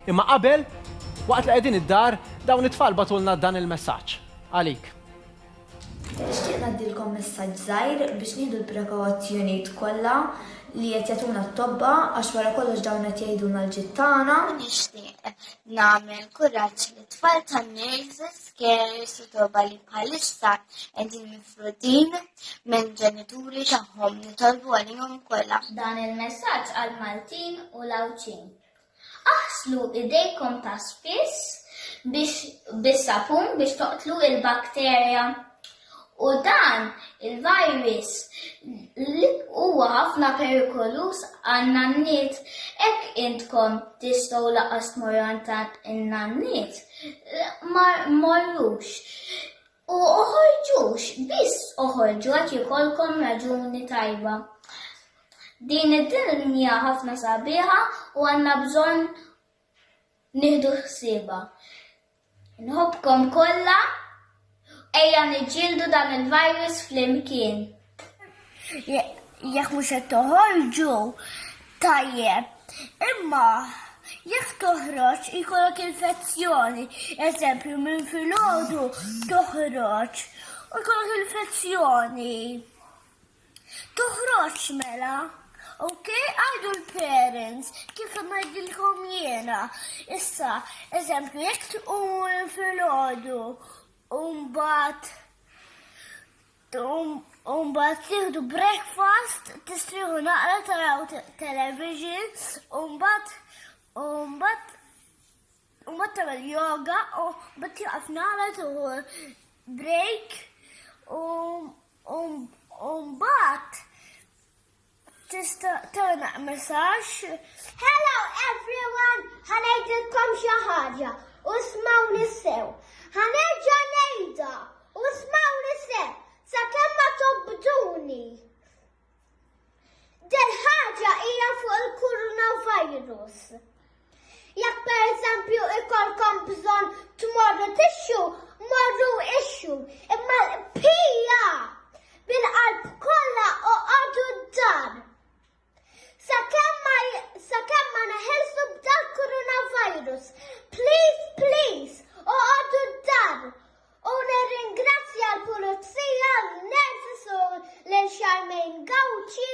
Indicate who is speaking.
Speaker 1: Imma qabel, waqt li qegħdin id-dar, dawn it-tfal bagħtulna dan il-messaġġ għalik.
Speaker 2: Nixtieq ngħaddilkom messaġġ żgħir biex nieħdu l-prekowazzjonijiet kollha li qed jagħtuna t-tobba għax wara kollox dawn qed jgħidulna l-ġid tagħna. Nixtieq
Speaker 3: nagħmel kuraġġ lit-tfal tan-nurses, carers u tobba li bħalissa qegħdin mifrudin minn ġenituri tagħhom nitolbu għalihom kollha. Dan il-messaġġ
Speaker 4: għall-Maltin u l-Għawdxin. Aħslu idejkom ta' spiss bis-sapun biex toqtlu l-bakterja u dan il-virus li huwa ħafna perikoluż għan-nanniet. Hekk intkom tistgħu lanqas tmorru għand in-nanniet. Ma mmorrux. U oħorġux, biss oħorġu jekk ikollkom raġuni tajba. Din id-dinja ħafna sabiħa u għandna bżonn nieħdu ħsiebha. Nħobbkom kollha, ejja niġġieldu dan il-virus flimkien.
Speaker 5: Jekk mhux qed toħorġu tajjeb, imma jekk toħroġ ikollok infezzjoni, eżempju minn filgħodu toħroġ u jkollok infezzjoni. Toħroġ mela. Ok, għadu l-parents, kif għedilkom jena. Issa, eżempju, jek tqum fil-ħodu, umbat U mbagħad tieħdu breakfast, tistrieħu naqra taraw television, u mbagħad u mbagħad u mbagħad tagħmel yoga u mbagħad tieqaf naqra tieħu break u mbagħad Tista' tagħna messaġġ. Hello
Speaker 6: everyone, ħanejdilkom xi ħaġa u smawni sew. Ħanerġa' ngħidha u smawni sew sakemm ma tobduni. Del ħaġa hija fuq il-coronavirus. Jekk pereżempju ikolkom bżonn tmorru tixxu, morru ixxu. Imma l-qbija bil-qalb kollha oqgħodu d-dar. Sakemm ma neħilsu b'dal coronavirus, please, please, oqgħodu d-dar. U nirringrazzja l-pulizija, l-nervis u l-xarmejn gawċi